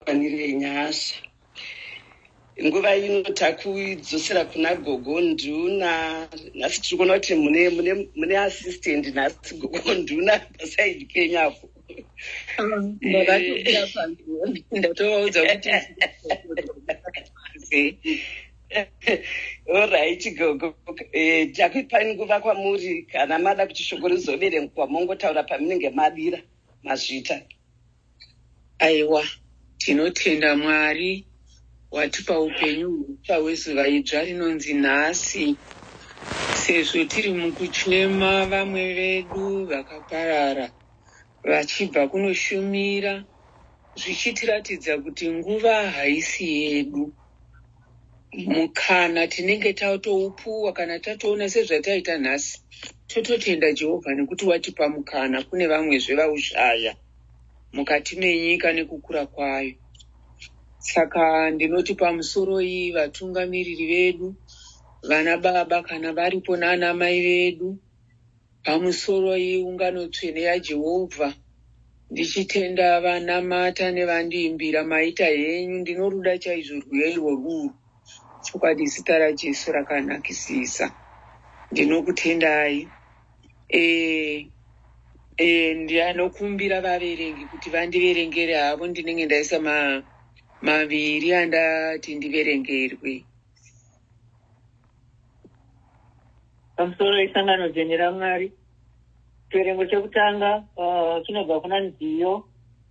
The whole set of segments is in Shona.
Kwanire nyasha. Nguva ino takudzosera kuna gogo nduna. Nhasi tiri kuona kuti mune mune mune assistant nhasi gogo nduna pasaidi penyu apo. Ndatovaudza kuti orit gogo eh, takuipai nguva kwamuri kana mada kuti shoko rizoverengwa mongotaura pamunenge madira mazvita Aiwa, tinotenda Mwari watipa upenyu hutsva hwezuva idzva rinonzi nhasi. Sezvo tiri mukuchema vamwe vedu vakaparara vachibva kunoshumira, zvichitiratidza kuti nguva haisi yedu. Mukana tinenge tatoupuwa kana tatoona sezvataita nhasi, tototenda Jehovha nekuti watipa mukana kune vamwezve vaushaya. mukati menyika nekukura kwayo. Saka ndinoti pamusoroi vatungamiriri vedu, vana baba kana varipo nana mai vedu, pamusoroi ungano tsvene yaJehovha, ndichitenda vanamata nevandiimbira maita henyu ndinoruda chaizvo rwiyo irworwuru chokwadi zita rajesu rakanakisisa ndinokutendai eh, eh, ndanokumbira vaverengi kuti vandiverengere havo ndinenge ndaisa ma, maviri andati ndiverengerwe pamusoro wesangano dzene ramwari chiverengo chekutanga uh, chinobva kuna nziyo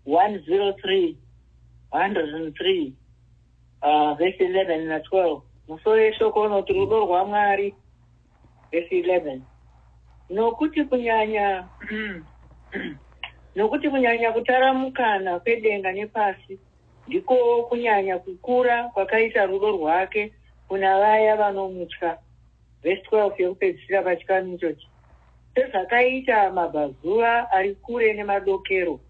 103 103 uh, vese 11 na 12 musoro yeshoko unoti rudo rwamwari vhesi 11 nokuti kunyanya nokuti kunyanya kutaramukana kwedenga nepasi ndiko kunyanya kukura kwakaita rudo rwake kuna vaya vanomutya vhesi 12 yekupedzisira pachikanu ichochi sezvakaita mabvazuva ari kure nemadokero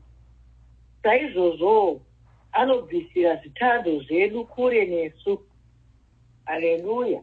saizvozvowo anobvisira zvitadzo zvedu kure nesu haleluya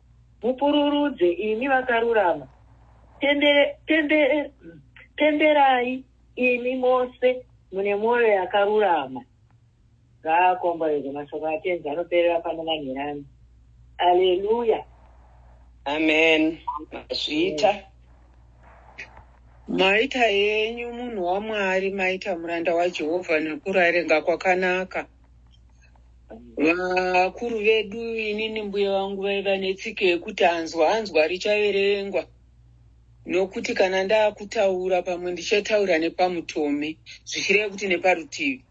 mupururudze imi vakarurama, pembere, pembere, pemberai imi mose mune mwoyo yakarurama. Ngaakomborerwe mashoko aTenzi anoperera pano manherani. Aleluya. Amen. Mazviita. Maita yenyu munhu waMwari, maita muranda waJehovha nekurarenga kwakanaka. vakuru vedu inini mbuya vangu vaiva netsika yekuti anzwa anzwa richaverengwa nokuti kana ndaakutaura pamwe ndichataura nepamutome zvichireva kuti neparutivi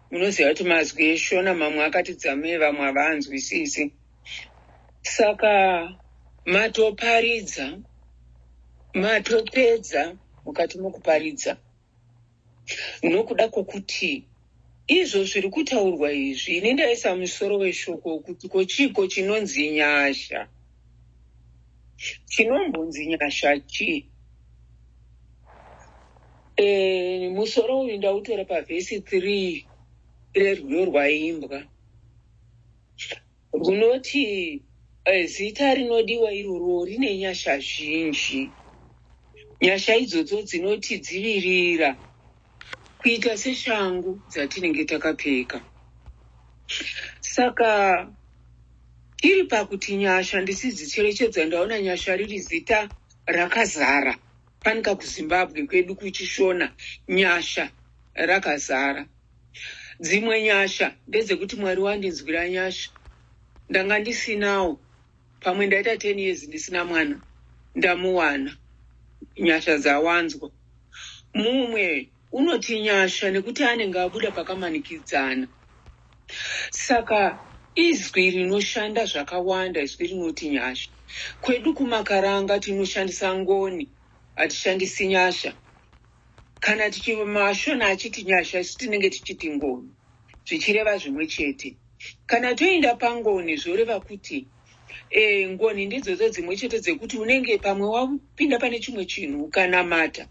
munoziva kuti mazwi eshona mamwe akati dzamei vamwe havaanzwisisi saka matoparidza matopedza mukati mokuparidza nokuda kwokuti izvo zviri kutaurwa izvi ini ndaisa musoro weshoko wokuti ko chiiko chinonzi nyasha chinombonzi nyasha chii e, musoro uyu ndautora pavhesi three rerwiyo rwaimbwa Runoti eh, zita rinodiwa iroro rine nyasha zhinji. Nyasha idzodzo dzinotidzivirira kuita seshangu dzatinenge takapfeka. Saka iri pakuti nyasha ndisidzicherechedza ndaona nyasha riri zita rakazara Fanika kuZimbabwe kwedu kuChishona nyasha rakazara. Dzimwe nyasha ndedzekuti Mwari wandinzwira nyasha. Ndanga ndisinawo pamwe ndaita 10 years ndisina mwana ndamuwana. Nyasha dzawanzwa. Mumwe Unoti nyasha nekuti anenge abuda pakamanikidzana. Saka izwi rinoshanda zvakawanda izwi rinoti nyasha. Kwedu kumakaranga tinoshandisa ngoni hatishandisi nyasha. Kana tichi mashona achiti nyasha isu tinenge tichiti ngoni zvichireva zvimwe chete. Kana toinda pangoni zvoreva kuti e, ngoni ndidzodzo dzimwe chete dzekuti unenge pamwe wapinda pane chimwe chinhu ukanamata.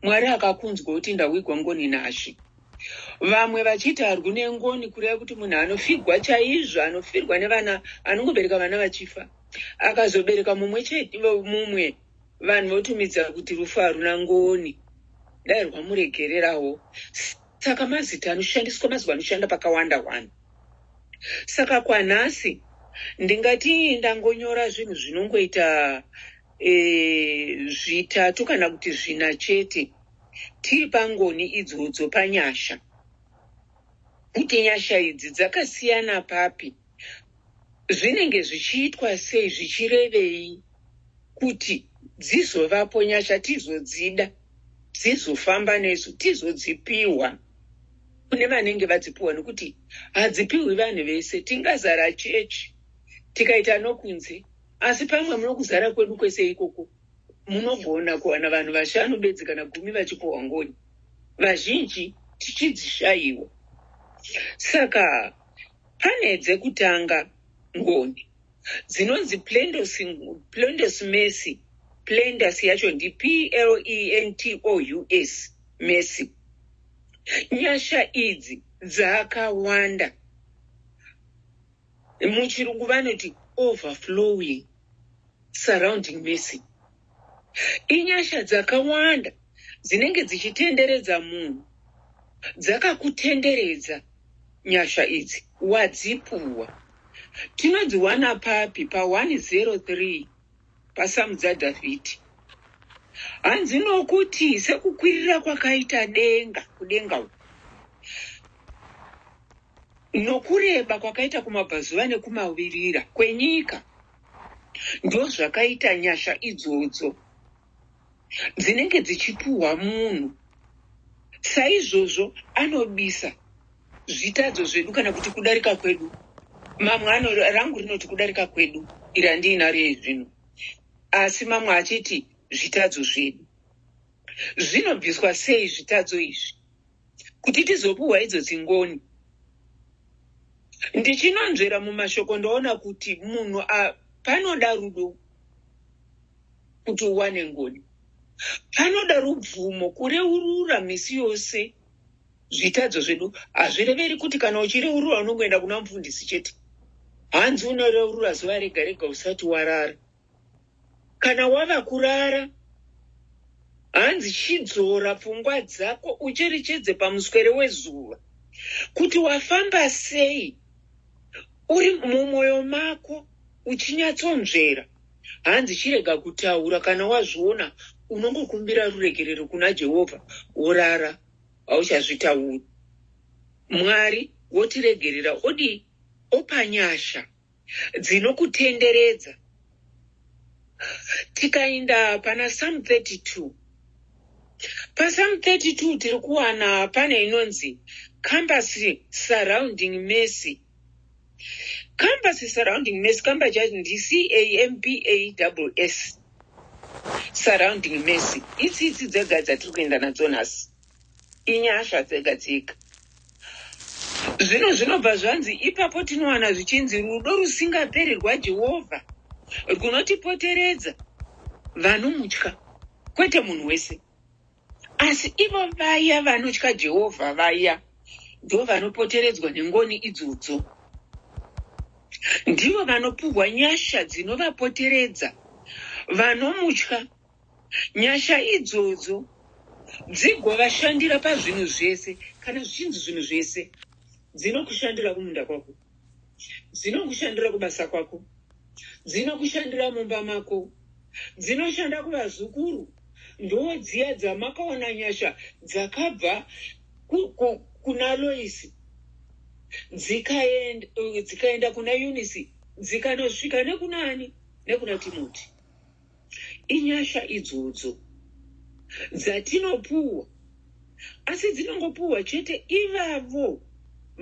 Mwari akakunzwa kuti ndawigwa ngoni nazvi. Vamwe vachiti harwi nengoni kureva kuti munhu anofigwa chaizvo, anofirwa nevana, anongobereka vana vachifa. Akazobereka mumwe chete, mumwe vanhu votumidza kuti rufu haruna ngoni. Dai rwamuregererawo. Saka mazita anoshandiswa mazuva anoshanda pakawanda wani. Saka kwanhasi ndingati ndangonyora zvinhu zvinongoita e, zvitatu kana kuti zvina chete tiri pangoni idzodzo panyasha kuti nyasha idzi dzakasiyana papi zvinenge zvichiitwa sei zvichirevei kuti dzizovapo nyasha tizodzida dzizofamba nesu tizodzipiwa kune vanenge vadzipiwa nekuti hadzipiwi vanhu vese tingazara chechi tikaita nokunze Asi pamwe muno kuzara kwedu kwese ikoko, munogona kuwana vanhu vashanu bedzi kana gumi vachipohwa ngoni, vazhinji tichidzishayiwa. Saka pane dzekutanga ngoni dzinonzi plendos, plendos mercy. Plendos yacho ndi P-L-E-N-T-O-U-S, mercy. Nyasha idzi dzakawanda. muchirungu vanoti overflowing surrounding mercy inyasha dzakawanda dzinenge dzichitenderedza munhu dzakakutenderedza nyasha idzi wadzipuwa tinodziwana papi pa 103 pasamudza Dhavhidhi. Hanzi nokuti sekukwirira kwakaita denga kudenga uku nokureba kwakaita kumabvazuva nekumavirira kwenyika, ndozvakaita nyasha idzodzo. dzinenge dzichipuhwa munhu saizvozvo anobisa zvitadzo zvedu kana kuti kudarika kwedu mamwe ano rangu rinoti kudarika kwedu iri andiinaro yezvino asi mamwe achiti zvitadzo zvedu zvinobviswa sei zvitadzo izvi kuti tizopiwa idzo dzingoni ndichinonzvera mumashoko ndoona kuti munhu panoda rudo kuti uwane ngoni panoda rubvumo kureurura misi yose zvitadzo zvedu hazvireveri kuti kana uchireurura unongoenda kuna mufundisi chete hanzi unoreurura zuva rega rega usati warara kana wava kurara hanzi chidzora pfungwa dzako ucherechedze pamuswere wezuva kuti wafamba sei uri mumwoyo mako uchinyatsonzvera hanzi chirega kutaura kana wazviona unongokumbira ruregerero kuna jehovha worara hauchazvitauri mwari wotiregerera odii opa nyasha dzinokutenderedza. Tikainda pana Psalm 32. PaPsalm 32 tiri kuwana pane inonzi compass surrounding mercy. Compass surrounding mercy kamba chacho ndi C A M P A double S. Surrounding mercy. Itsi itsi dzega dzatiri kuenda nadzo nhasi. inyasha dzega dzega zvino zvinobva zvanzi ipapo tinowana zvichinzi rudo rusingaperi rwajehovha rwunotipoteredza vanomutya kwete munhu wese asi ivo vaya vanotya jehovha vaya ndo vanopoteredzwa nengoni idzodzo ndivo vanopuhwa nyasha dzinovapoteredza vanomutya Nyasha idzodzo dzigovashandira pazvinhu zvese. Kana zvichinzi zvinhu zvese, dzinokushandira kumunda kwako, dzinokushandira kubasa kwako, dzinokushandira mumba mako, dzinoshanda kuvazukuru. Ndodziya dzamakaona nyasha dzakabva kuna Loisi dzikaenda dzikaenda kuna Eunice dzikanosvika nekunani nekuna Timoti. Inyasha idzodzo dzatinopuhwa asi dzinongopuhwa chete ivavo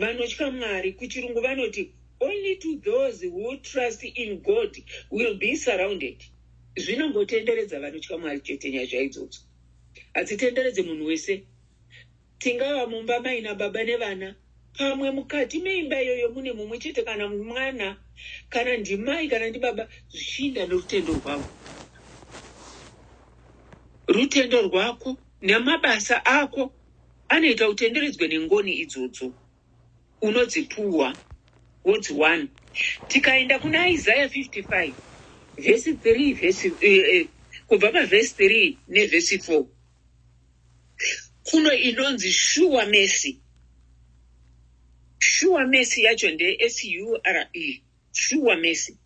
vanotya Mwari. Kuchirungu vanoti only to those who trust in God will be surrounded. Zvinongotenderedza vanotya Mwari chete nyasha idzodzo. Hadzitenderedze munhu wese. Tingava mumba maina baba nevana. Pamwe mukati meimba iyoyo mune mumwe chete kana mwana kana ndimai kana ndibaba zvichiinda nerutendo rwavo. Rutendo rwako nemabasa ako anoita utenderedzwe nengoni idzodzo unodzipuwa wodziwana. Tikaenda kuna Isaiah 55 vhesi 3 vhesi eh, eh, kubva pavhesi 3 nevhesi 4 kuno inonzi shuwa mesi shuwa mesi yacho ndesure shuwa mesi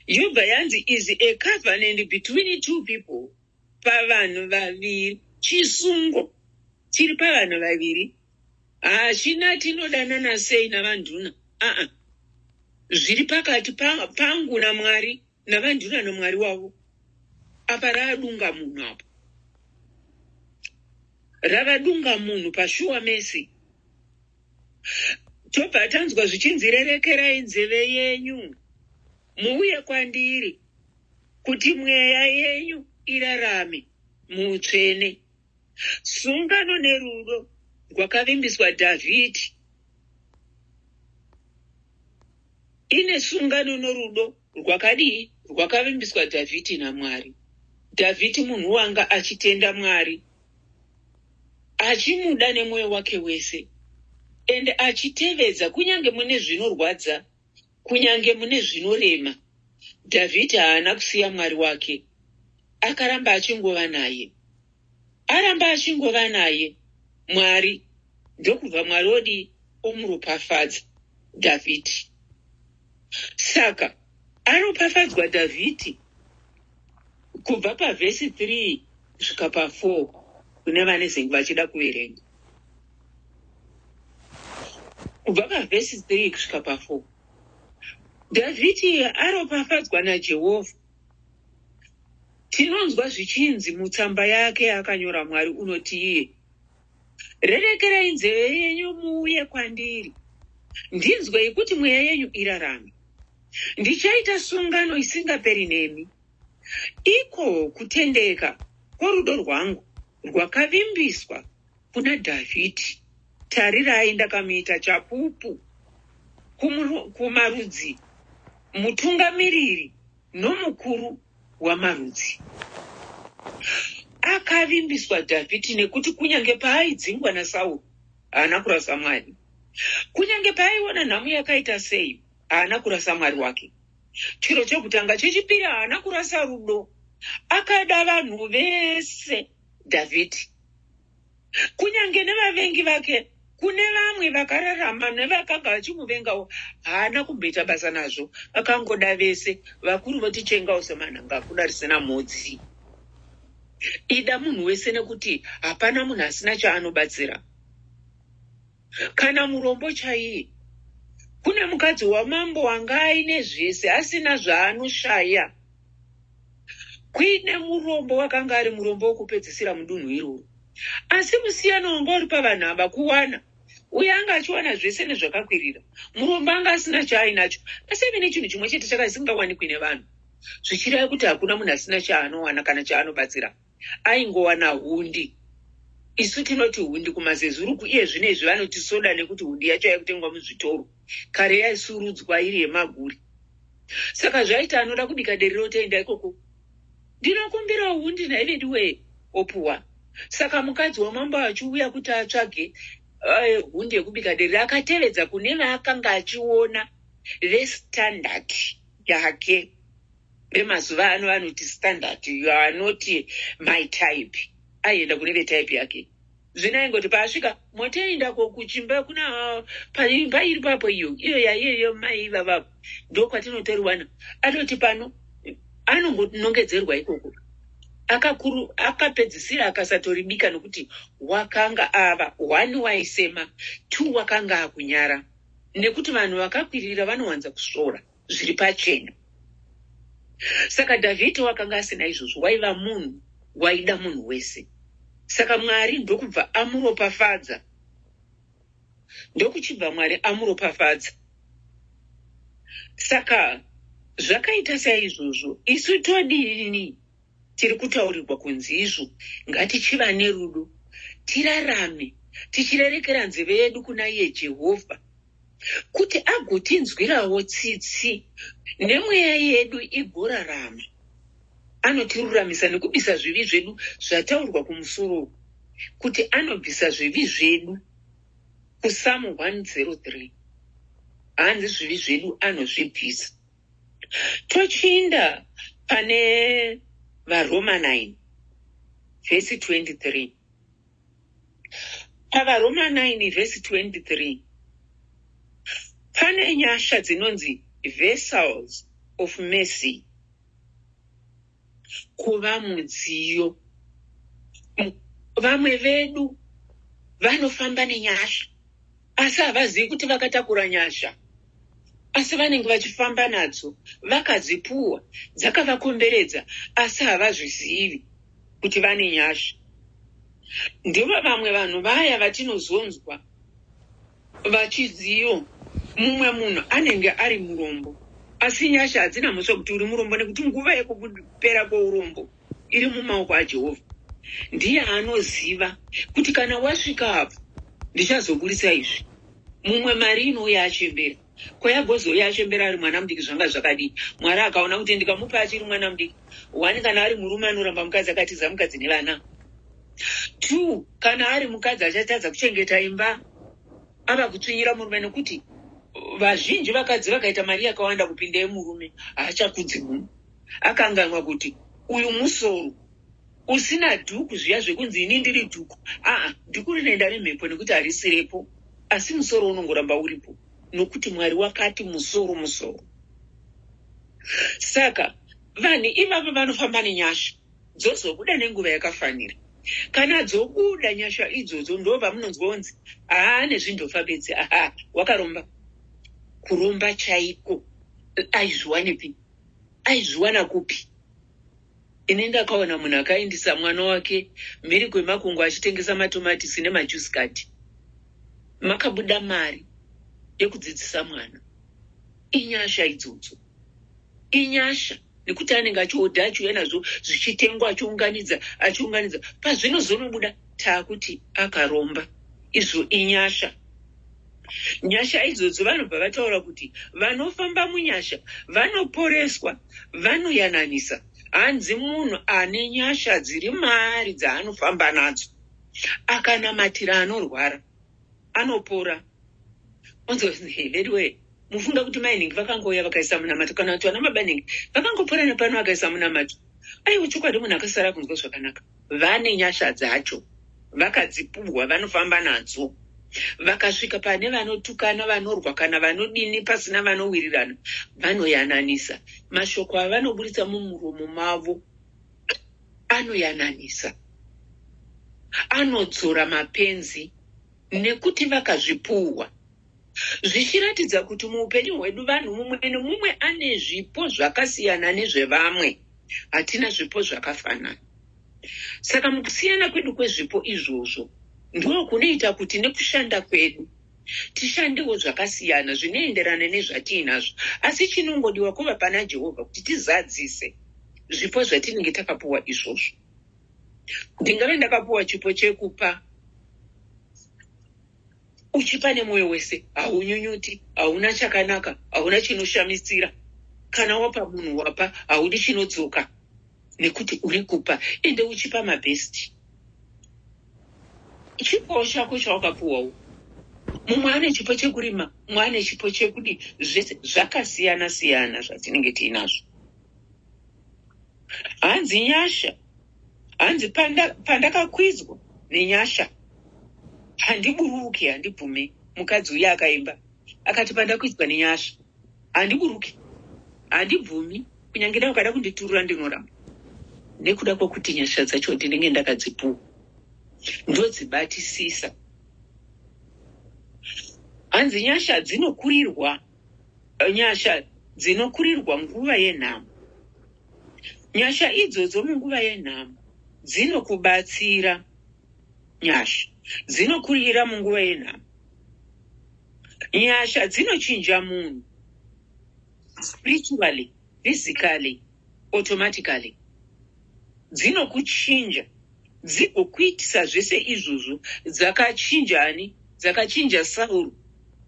yobva yanzi is a covenant between two people pavanhu vaviri chisungo chiri pavanhu vaviri hachina tinodanana sei navanduna aa zviri pakati pangu namwari Navandira namwari wavo apa raadunga munhu apo ravadunga munhu pashuwa mesi tobva tanzwa zvichinzi rerekerai nzeve yenyu muuye kwandiri kuti mweya yenyu irarame muutsvene sungano nerudo rwakavimbiswa dhavhidhi ine sungano norudo Rwakadii? Rwakavimbiswa Dhavhidhi naMwari. Dhavhidhi munhu wanga achitenda Mwari, achimuda nemwoyo wake wese, ende achitevedza kunyange mune zvinorwadza, kunyange mune zvinorema. Dhavhidhi haana kusiya Mwari wake, akaramba achingova naye. aramba achingova naye mwari ndokubva mwari odii omuropafadza dhavhidhi saka aropafadzwa dhavhidhi kubva pavhesi 3 svika pa4 kune vane zingu vachida kuverenga kubva pavhesi 3 kusvika pa4 dhavhidhi aropafadzwa najehovha Tinonzwa zvichinzi mutsamba yake yaakanyora Mwari unoti iye, Rerekerai nzeve yenyu muuye kwandiri, ndinzwei kuti mweya yenyu irarame. Ndichaita sungano isingaperi nemi, iko kutendeka kworudo rwangu rwakavimbiswa. kuna Dhavhidhi, Tarirai, ndakamuita chapupu kumarudzi, mutungamiriri nomukuru wamarudzi. Akavimbiswa Dhavhidhi nekuti kunyange paaidzingwa naSauro haana kurasa Mwari. Kunyange paaiona nhamo yakaita sei haana kurasa Mwari wake. Chiro chekutanga. Chechipiri, haana kurasa rudo. Akada vanhu vese. Dhavhidhi. Kunyange nevavengi vake, kune vamwe vakararama nevakanga vachimuvengawo, haana kumboita basa nazvo. Vakangoda vese, vakuru votichengawo semanhanga akuda risina mhodzi. Ida munhu wese nekuti hapana munhu asina chaanobatsira. Kana murombo chaiye. Kune mukadzi wamambo wanga aine zvese asina zvaanoshaya. Kuine murombo wakanga ari murombo wokupedzisira mudunhu iroro. Asi musiyano wanga uri pavanhu ava kuwana. Uye anga achiwana zvese nezvakakwirira. Murombo anga asina chaainacho. Asi aive nechinhu chimwe chete chakasingawanikwi nevanhu. Zvichireva kuti hakuna munhu asina chaanowana kana chaanobatsira. aingowana hundi isu tinoti hundi kumazezuru iye zvino izvi vanoti soda nekuti hundi yacho yaikutengwa muzvitoro kare yaisurudzwa iri yemaguri saka zvaiti anoda kubika deri rotoenda ikoko ndinokumbirawo hundi nhaivediwee opuwa saka mukadzi wamambo achiuya kuti atsvage eh, hundi yekubika deri akatevedza kune vaakanga achiona vestandard yake vemazuva ano vanoti standard you are not my type aienda kune vetype yake zvino aingoti paasvika motoenda ko kuchimba kuna paimba iri papo iyo iyo yaiyeyo mai ivavavo ndo kwatinotoriwana atoti pano anongonongedzerwa ikoko akakuru akapedzisira akasatoribika nokuti wakanga ava one waisema two wakanga akunyara nekuti vanhu vakakwirira vanowanza kusvora zviri pachena saka dhavhidhi wakanga asina izvozvo waiva munhu waida munhu wese saka mwari ndokubva amuropafadza ndokuchibva mwari amuropafadza saka zvakaita saizvozvo isu todiini tiri kutaurirwa kunzi izvo ngatichiva nerudo tirarame tichirerekera nzeve yedu kuna iye jehovha kuti agotinzwirawo tsitsi nemweya yedu igorarama anotiruramisa nekubisa zvivi zvedu zvataurwa kumusoro uku kuti anobvisa zvivi zvedu kusamu 103 hanzi zvivi zvedu anozvibvisa tochiinda pane varoma 9 vhesi 23 pavaroma 9 vhesi 23 pane nyasha dzinonzi vessels of mercy kuva mudziyo vamwe vedu vanofamba nenyasha asi havazivi kuti vakatakura nyasha asi vanenge vachifamba nadzo vakadzipuwa dzakavakomberedza asi havazvizivi kuti vane nyasha ndivo vamwe vanhu vaya vatinozonzwa vachiziyo mumwe munhu anenge ari murombo asi nyasha hadzina mhosva kuti uri murombo nekuti nguva yekupera kweurombo iri mumaoko aJehovha. Ndiye anoziva kuti kana wasvika apo ndichazoburitsa izvi. Mumwe mari inouya achembera. Kwayagozouya achembera ari mwana mudiki zvanga zvakadii? Mwari akaona kuti ndikamupa achiri mwana mudiki. One kana ari murume anoramba mukadzi akatiza mukadzi nevana. Two kana ari mukadzi achatadza kuchengeta imba ava kutsvinyira murume nekuti vazhinji vakadzi vakaita mari yakawanda kupinda yemurume haachakudzi munhu. akanganwa kuti uyu musoro usina dhuku zviya zvekunzi ini ndiri dhuku aa dhuku rinoenda nemhepo nekuti harisirepo asi musoro unongoramba uripo nokuti mwari wakati musoro musoro saka vanhu ivavo vanofamba nenyasha dzozobuda nenguva yakafanira kana dzobuda nyasha idzodzo ndo vamunonzwa unzi haa nezvindofa bedzi haa wakaromba kuromba chaiko aizviwanepi aizviwana kupi ini ndakaona munhu akaindisa mwana wake mhiri kwemakungo achitengesa matomatisi nemajusi kati makabuda mari yekudzidzisa mwana inyasha idzodzo inyasha nekuti anenge achiodha achiuya nazvo zvichitengwa achiunganidza achiunganidza pazvinozonobuda taakuti akaromba izvo inyasha Nyasha idzodzo vanobva vataura kuti vanofamba munyasha vanoporeswa, vanoyananisa. Hanzi munhu ane nyasha dziri maari dzaanofamba nadzo akanamatira anorwara anopora. Onzi veduwee mufunga kuti mai nhingi vakangouya vakaisa munamato kana kuti vana baba nhingi vakangopora nepano vakaisa munamato. Aiwa chokwadi munhu akasara kunzwa zvakanaka. Vane nyasha dzacho vakadzipuhwa vanofamba nadzo vakasvika pane vanotukana vanorwa kana vanodini pasina vanowirirana vanoyananisa mashoko avanoburitsa mumuromo mavo anoyananisa anodzora mapenzi nekuti vakazvipuhwa zvichiratidza kuti muupenyu hwedu vanhu mumwe nomumwe ane zvipo zvakasiyana nezvevamwe hatina zvipo zvakafanana saka mukusiyana kwedu kwezvipo izvozvo ndoo kunoita kuti nekushanda kwedu tishandewo zvakasiyana zvinoenderana nezvatiinazvo asi chinongodiwa kuva pana jehovha kuti tizadzise zvipo zvatinenge takapuwa izvozvo ndingave ndakapuwa chipo chekupa uchipa nemwoyo wese haunyunyuti hauna chakanaka hauna chinoshamisira kana wapa munhu wapa haudi chinodzoka nekuti uri kupa ende uchipa mabhesti chipowo chako chawakapuwawo mumwe ane chipo chekurima mumwe ane chipo chekudi zvese zvakasiyana siyana zvatinenge tiinazvo hanzi nyasha hanzi pandakakwidzwa panda nenyasha handiburuke handibvume mukadzi uye akaimba akati pandakwidzwa nenyasha handiburuke handibvumi kunyange da ukada kunditurura ndinoramba nekuda kwokuti nyasha dzacho ndinenge ndakadzipuwa ndodzibatisisa hanzi nyasha dzinokurirwa Nyasha dzinokurirwa nguva yenhamo. Nyasha idzodzo munguva yenhamo dzinokubatsira. Nyasha dzinokurira munguva yenhamo. Nyasha dzinochinja munhu spiritually, physically, automatically dzinokuchinja dzigokuitisa zvese izvozvo dzakachinja ani dzakachinja sauro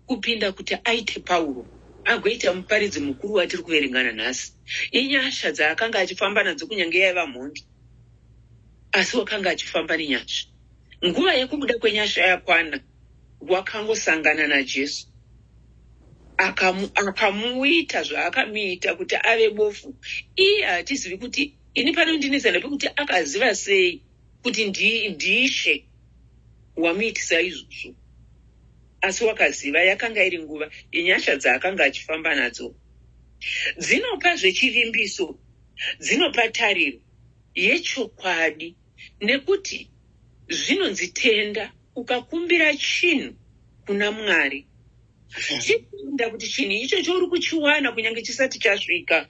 kupinda kuti aite pauro agoita muparidzi mukuru watiri kuverengana nhasi inyasha dzaakanga achifamba nadzo kunyange yaiva mhondi asi wakanga achifamba nenyasha nguva yekubuda kwenyasha yakwana wakangosangana najesu akamu, akamuita zvaakamuita kuti ave bofu iye hatizivi kuti ini panondinetsa ndepekuti akaziva sei kuti ndi- ndiishe wamuitisa izvozvo asi wakaziva yakanga iri nguva yenyasha dzaakanga achifamba nadzo dzinopa zvechivimbiso dzinopa tariro yechokwadi nekuti zvinonzi tenda ukakumbira chinhu kuna mwari mm. chikuenda kuti chinhu ichocho uri kuchiwana kunyange chisati chasvika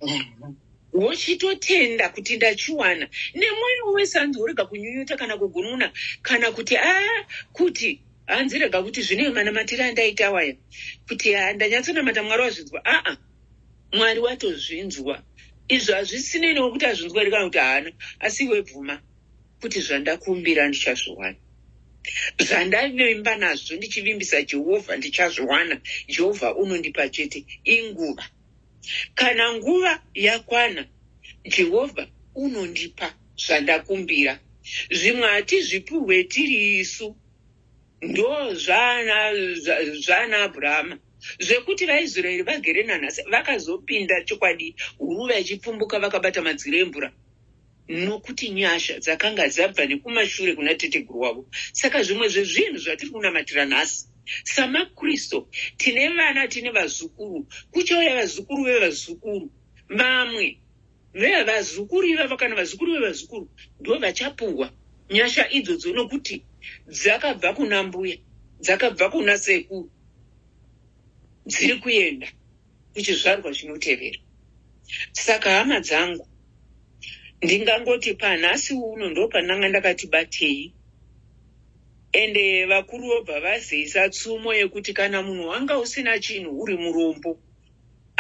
mm-hmm. wochitotenda kuti ndachiwana nemwoyo wese hanzi worega kunyunyuta kana kugununa kana kuti a ah, kuti hanzi rega kuti zvine manamatiri andaita waya kuti ah, ndanyatsonamata mwari wazvinzwa aa ah, Mwari watozvinzwa izvo hazvisinei nokuti azvinzwa here kana kuti haana asi iwe bvuma kuti zvandakumbira ndichazviwana zvandavimba nazvo ndichivimbisa jehovha ndichazviwana jehovha unondipa chete inguva kana nguva yakwana jehovha unondipa zvandakumbira zvimwe hatizvipuhwe tiri isu Ndo zvana zvana Abrahama zvekuti vaIsraeri vagere nanhasi vakazopinda chokwadi huruva ichipfumbuka vakabata madziro emvura nokuti nyasha dzakanga dzabva nekumashure kuna teteguru wavo saka zvimwe zvezvinhu zvatiri kunamatira nhasi samakristu tine vana tine vazukuru kuchauya vazukuru vevazukuru vamwe Vea vazukuru ivava kana vazukuru vevazukuru ndo vachapuhwa nyasha idzodzo nokuti dzakabva kuna mbuya dzakabva kuna sekuru dziri kuenda kuchizvarwa chinotevera saka hama dzangu ndingangoti panhasi uno ndo pandanga ndakati batei ende vakuru vobva vazeisa tsumo yekuti kana munhu wanga usina chinhu uri murombo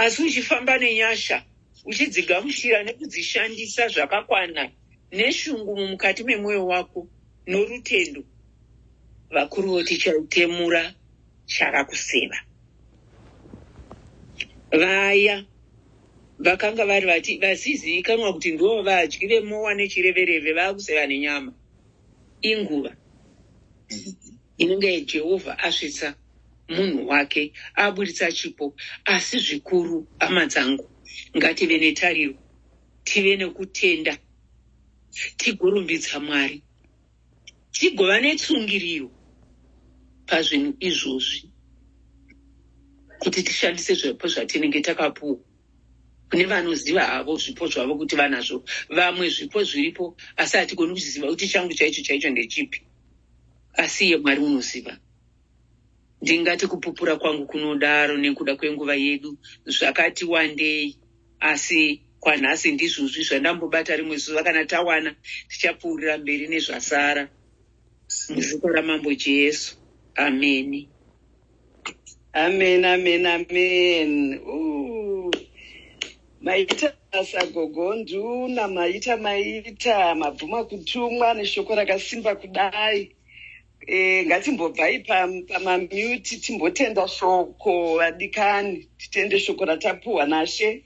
asi uchifamba nenyasha uchidzigamuchira nekudzishandisa zvakakwana neshungu mumukati memwoyo wako norutendo vakuru voti chautemura chava kuseva vaya vakanga vari vati vasizivikanwa kuti ndivo vadyi vemowa nechirevereve vava kuseva nenyama inguva inenge Jehovha asvitsa munhu wake, aburitsa chipo. Asi zvikuru, hama dzangu, ngative netariro, tive nekutenda, tigorumbidza Mwari, tigova netsungiriro pazvinhu izvozvi, kuti tishandise zvipo zvatinenge takapuwa. Kune vanoziva havo zvipo zvavo kuti vanazvo, vamwe zvipo zviripo, asi hatigoni kuziva kuti changu chaicho chaicho ndechipi. asi iye mwari unoziva ndingati kupupura kwangu kunodaro nekuda kwenguva yedu zvakati wandei asi kwanhasi ndizvozvi zvandambobata rimwe zuva kana tawana tichapfuurira mberi nezvasara muzita ramambo jesu ameni amen amen amen Ooh. maita basa gogo nduna maita maita mabvuma kutumwa neshoko rakasimba kudai e, ngatimbobvai pamamuti timbotenda shoko vadikani titende shoko ratapuhwa nashe